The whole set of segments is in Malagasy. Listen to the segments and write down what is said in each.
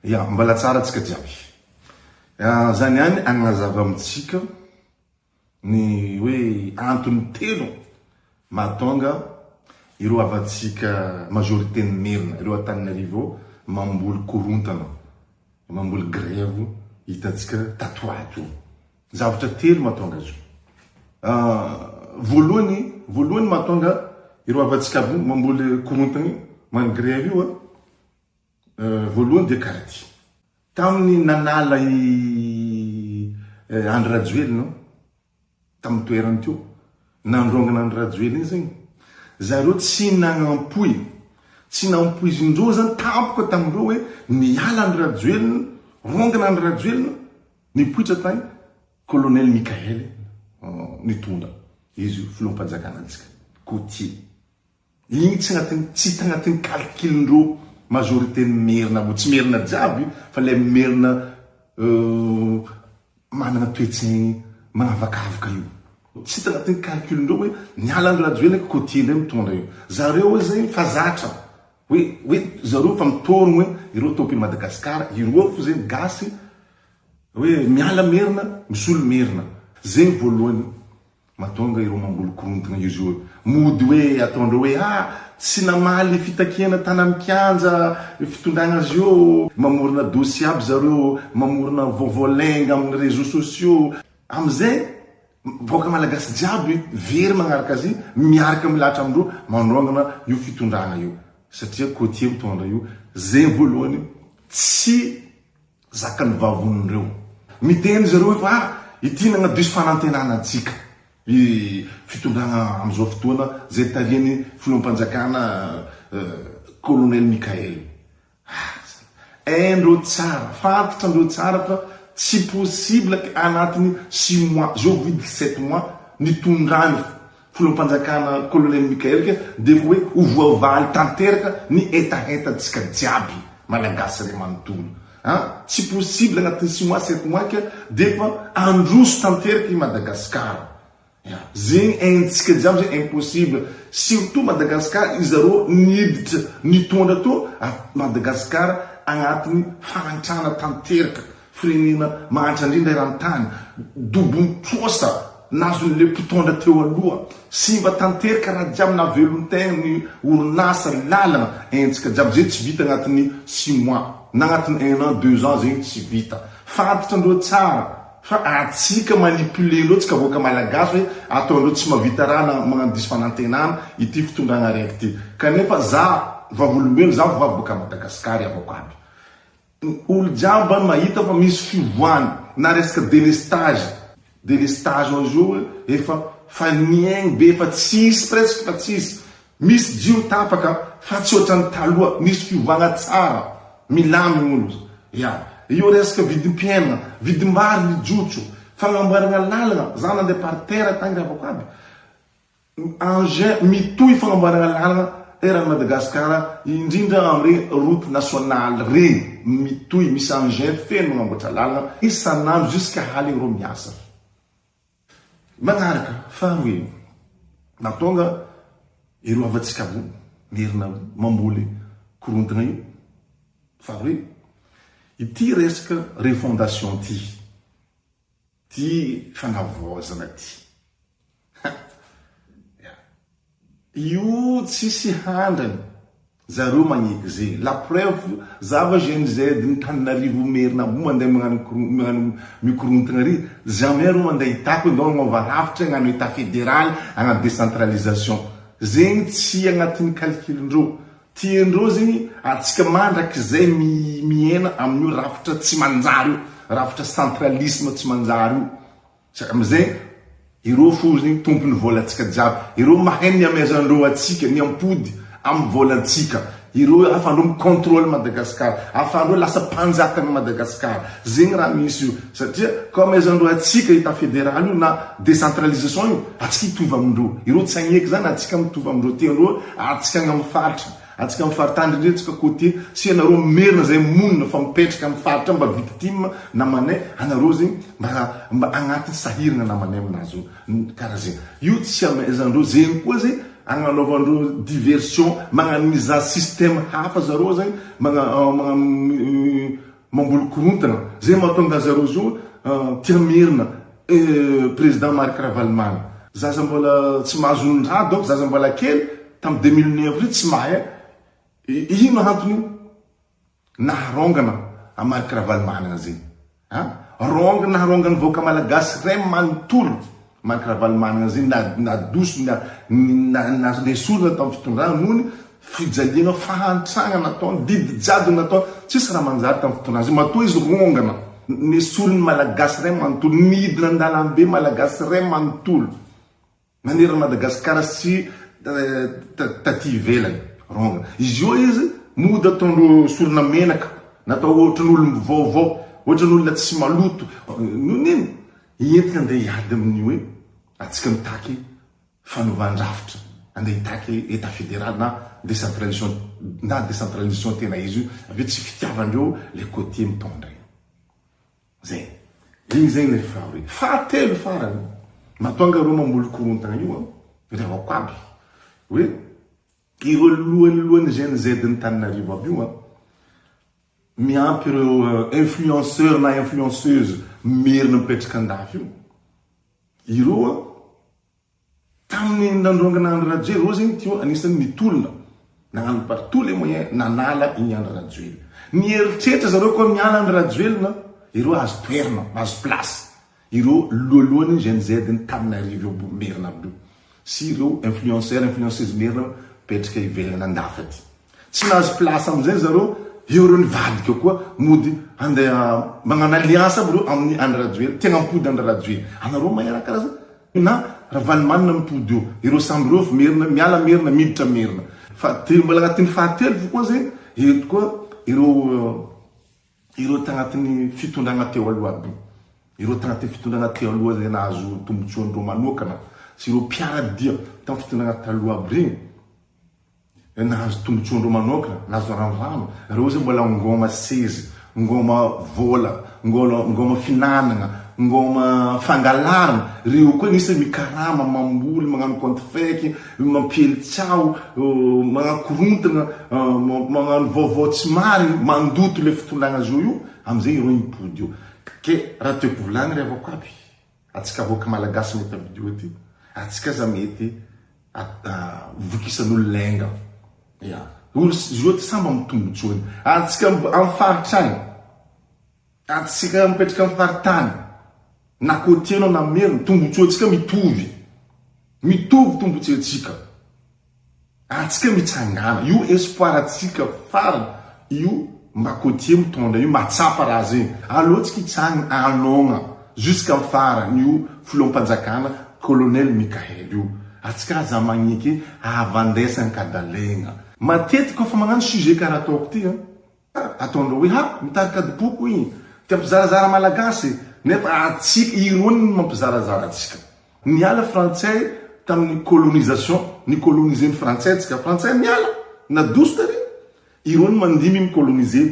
Ya, mbala tsara antsika jiaby. Zany ihany agnazava amintsika ny hoe antony telo mahatonga ireo havantsika majorité ny merina, ireo Antananarivo mamboly korontana, mamboly grève hitantsika tato ho ato. Zavatra telo mahatonga azy io. Voalohany, voalohany mahatonga ireo havantsika mamboly korontana io, manao grève io, Voalohany dia karaty. Tamin'ny nanala i Andry Rajoelina ao, tamin'ny toerany teo, nandrongana Andry Rajoelina iny zany, zareo tsy nagnampoy, tsy nampoizin-dreo zany tampoka tamin-dreo hoe miala Andry Rajoelina, rongana Andry Rajoelina, nipoitra tany Colonel Mickael nitondra izy io filoham-panjakana antsika, Côtier. Igny tsy agnatin'ny tsy hita agnatin'ny calcul-ndreo majorité-n'ny merina abo, tsy merina jiaby io fa le merina managna toe-tsaigny manavakavaka io, tsy hita agnatin'ny calcul-ndreo hoe niala andry rajoelina ka côtier ndray mitondra io, zareo oe zay fa zatra hoe hoe zareo fa mitorogno hoe ireo tompin'i Madagascar ireo fô zegny gasy hoe miala merina misolo merina, zegny voalohany. Matonga ireo mamboly korontana izy io mody hoe ataondreo hoe ah tsy namaly fitakiana tana am kianja fitondrana azy eo, mamorona dossier aby zareo, mamorona vaovao lainga am ny reseaux sociaux, am zay vahoaka malagasy jiaby very manaraka azy miaraka milahatra amindreo mandraongana io fitondrana io satria cotier mitondra io, zay voalohany tsy. Zakan'ny vavony ireo. Miteny izy ireo hoe fa ity no agnadiso fanantenana antsika. Ny fitondrana amin'izao fotoana izay tarihan'ny filoham-panjakana Colonel Mickaël. Aza. Hain-dreo tsara, fantatran-dreo tsara fa tsy possible anatin'ny six mois, zao vao vita sept mois nitondrany. Filoham-panjakana Colonel Michael dia koa hoe ho voavaly tanteraka ny hetahetantsika jiaby Malagasy ry manontolo a! Tsy possible anatin'ny six mois sept mois ka dia efa handroso tanteraka i Madagascar a! Zegny haintsika jiaby zegny impossible surtout Madagascar izarô niditra nitondra tô a Madagascar agnatiny fahantrana tanteraka Firenena mahantra indrindra eran-tany, Dobon'ny trosa nazon'ilay mpitondra teo aloha. Simba tanterka raha jiaby navelon-tena ny orinasa, lalana, hetsika jiaby. Izay tsy vita anatin'ny six mois, na anatin'ny un an, deux ans zegny tsy vita. Fantatra ndreo tsara fa atsika manipuler ndreo tsika vahoaka Malagasy hoe ataondreo tsy mahavita raha na magnano diso fanantenana ity fitondrana raiky ity. Kanefa za vavolombelo, za vavy baka Madagascar avoko aby. Olo jiaby any mahita fa misy fivoahana na resaka delestage delestage ao zao efa fa niaigny be fa tsisy presque fa tsisy misy jiro tapaka fa tsy otrany taloha misy fivoahana tsara milamigny olo ya eo resaka vidim-piainana vidim-bary mijotso fagnamboaragna lalagna za nande par terre tagny ravako aby Engins mitohy fanamboarana lalana eran'i Madagasikara indrindra amin'ireny route nationale ireny. Mitohy, misy engins feno manamboatra lalana isan'andro jusqu'à hale ireo miasa. Manaraka, faharoa iny, na tonga ireo havantsika ambony Merina mamboly korontana io, faharoa iny, ity resaka refondation ity. Ty fanavaozana ty. Ya. Io tsisy handrany. Zareo magneky zegny. La preuve za va Gen Z ny Tananarivo Merina Amboa mandeha magnano mikorontagna ary jamais reo mandeha hitako ndao agnova rafitra agnano Etat Federaly agnano decentralisation. Zegny tsy agnatiny calcul ndreo. Tian-dry zany antsika mandrakizay miaina amin'io rafitra tsy manjary io, rafitra centralisme tsy manjary io. Saika amin'izay ireo fo zany tompon'ny volantsika jiaby, ireo mahay ny amezan-dreo antsika, ny ampody amin'ny volantsika, ireo ahafahan-dreo mi-controle Madagascar, ahafahan-dreo lasa mpanjakan'i Madagascar. Zegny raha misy io. Satria comme izany reo atsika état fédéral io na décentralisation io atsika hitovy amindreo ireo tsy hagneky zany atsika mitovy amindreo telo eo atsika agny am faritra atsika am faritany ndrindra atsika côtier sia nareo merina zay monina fa mipetraka am faritra mba victime namanay anareo zegny mba mba agnaty sahiragna namanay aminazy io kara zegny io tsy amaizandreo zegny koa zay agnanaovandreo diversion magnagniza système hafa zareo zagny magna magnano Mamboly korontana, zay mahatonga azy zareo zo tia merina eh président Marc Ravaloman. Zaza mbola tsy mahazo ny rà donc zaza mbola kely tam deux mille neuf reo tsy mahay an eh ino antony io naharaongana an Marc Ravaloman an zay an raongina naharaongana ny vahoaka malagasy ray manontolo. Marc Ravalomanana izay nadosona nesorina tamin'ny fitondrana noho ny fijaliana fahantrana nataony, didy jadona nataony, tsisy raha manjary tamin'ny fitondrana izay, matoa izy rongana, nesorin'ny Malagasy iray manontolo, nidina an-dalambe Malagasy iray manontolo nanerana Madagasikara sy taty ivelany, rongana izy eo izy mody ataondro sorona menaka, natao ohatran'olom-baovao, ohatran'olona tsy maloto, noho ny inona? Hientika andeha hiady amin'ny hoe antsika mitaky fanovan-drafitra, andeha hitaky Etat fédéral na décentralisation na décentralisation tena izy io, avy eo tsy fitiavan-dreo le côtier mitondra iny. Zay. Iny zay le faharoy. Fahatelo farany, matonga reo mamolokorontana io an, reo avy ao koaby, hoe Ireo lohelohen'ny GNZ n'ny Taninarivo aby io an! Miampy ireo influenceurs na influenceuses merina mipetraka andafy io. Ireo an! Tamin'ny nandrongana Andry Rajoely, ireo zegny teo anisan'ny nitolona, nagnano par tous les moyens nanala igny Andry Rajoely. Nieritreritra zareo koa miala Andry Rajoelina, ireo azo toerana, azo place. Ireo lohalohany Gen Z ny tanin'arivo eo bo merina bo sy ireo influenceurs influenceuse merina petrika ivelany andafy aty. Tsy nahazo place amzay zareo eo ireo nivadika koa mody handeha magnano alliance aby ireo amin'ny Andry Rajoel tegna mpody Andry Rajoel anareo maheraka ra na Ravalomanana mpody eo ireo samby ireo avy merina miala merina miditra merina fa de mbola agnatin'ny fahatelo fo koa zegny eto koa ireo Ireo tanatin'ny fitondrana teo aloha aby, ireo tanatin'ny fitondrana teo aloha izay nahazo tombotsoany ireo manokana sy ireo mpiara-dia tamin'ny fitondrana taloha aby ireny, izay nahazo tombotsoany ireo manokana, nahazo varandrano, ireo izay mbola ngôma sezy, ngôma vôla, ngôla, ngôma finanagna, ngôma fangalarana, ireo koa anisany mikarama, mamboly, magnano compte fake, mampiely tsaho, manakorontana, magnano vaovao tsy marigny, mandoto le fitondràgna zo io, amzay ireo hipody eo. Ke raha tiako volagny ry havako aby, atsika vahoaka malagasy mety havidio aty, atsika aza mety vokisan'olona enga, ya, olo zo ety samy am tombotsoany, atsika am faritra agny, Adintsika mipetraka amin'ny faritany na côtier no namery ny tombontsoantsika mitovy. Mitovy tombontsoantsika. Ary tsika mitsangàna. Io espoir antsika farany io mba côtier mitondra io, mba tsapa raha zegny. Aleo tsika hitsangana hanôgna jusqu'amin'ny farany io filoham-panjakana Colonel Mickaël io. Atsika aza magneke havandesy an-kadalegna. Matetiky kôfa magnano sujet karaha ataoko ty an, Ataondreo hoe ha mitarika adim-poko hoy ny te hampizarazara Malagasy nefa atsika irony no mampizarazara atsika. Niala frantsay tamin'ny colonisation, ni-coloniser ny frantsay atsika, frantsay miala, nadoso tary, irony mandimby mi coloniser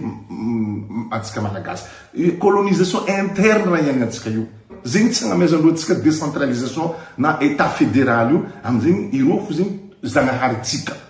atsika Malagasy. Colonisation interne raha iainantsika io. Zegny tsy agnamezandreo atsika decentralisation na etat federal io, amzegny ireo fo zegny zagnahary tsika.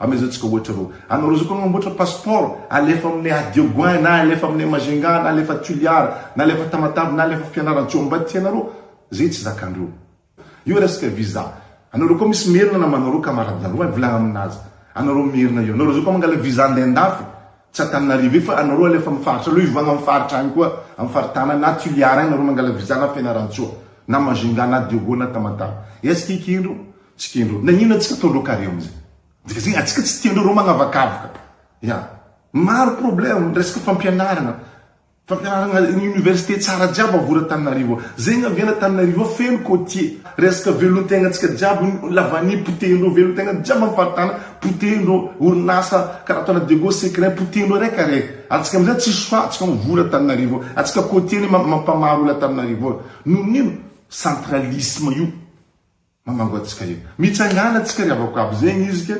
Amezao tsika ohatra roa. Anao roa zao ko mamboatra passeport, alefa aminay Adioguin, na alefa aminay Majunga, na alefa Toliara, na alefa Tamatave, na alefa Fianarantsoa Ambay tianareo, zay tsy zakandreo. Io resaka visa. Anao roa ko misy merina namanao roa camarade nareo any, volagna aminazy. Anao roa merina io. Anao roa zao ko mangala visa handeha andafy, tsy Antananarivo io fa anao roa alefa am faritra, aleo hivoagna am faritra any koa, am faritana any, na Tuliara any nareo mangala visa na Fianarantsoa, na Majunga, na Adiogo, na Tamatave. Est-ce que eky indro Tsy tiandreo. Naninona tsy ataondreo carré amizay. Dia zay atsika tsy tiandreo reo magnavakavaka. Ya. Maro problème ny resaka fampianarana. Fampianarana ny université tsara jiaby avory Antananarivo ao. Zay ny avy any Antananarivo ao feno côtier. Resaka velontegna tsika jiaby lavanie potehin-dreo velontegna jiaby am faritana potehin-dreo orinasa karaha ataona Diego secret potehin-dreo araiky araiky. Ary tsika amizay tsisy choix tsika mivory Antananarivo ao. Ary tsika côtier ne mampamaro olo Antananarivo ao. Noho ino? Centralisme io. Mamango antsika io. Mitsangana tsika ry havako aby zegny izy ka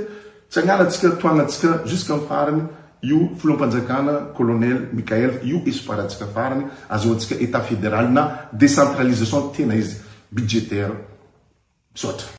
tsangana tsika toagna tsika jusqu'à ny farany io filoham-panjakana colonel Mickael io espoir antsika farany azahoantsika etat federal na decentralisation tena izy budgétaire. Misaotra.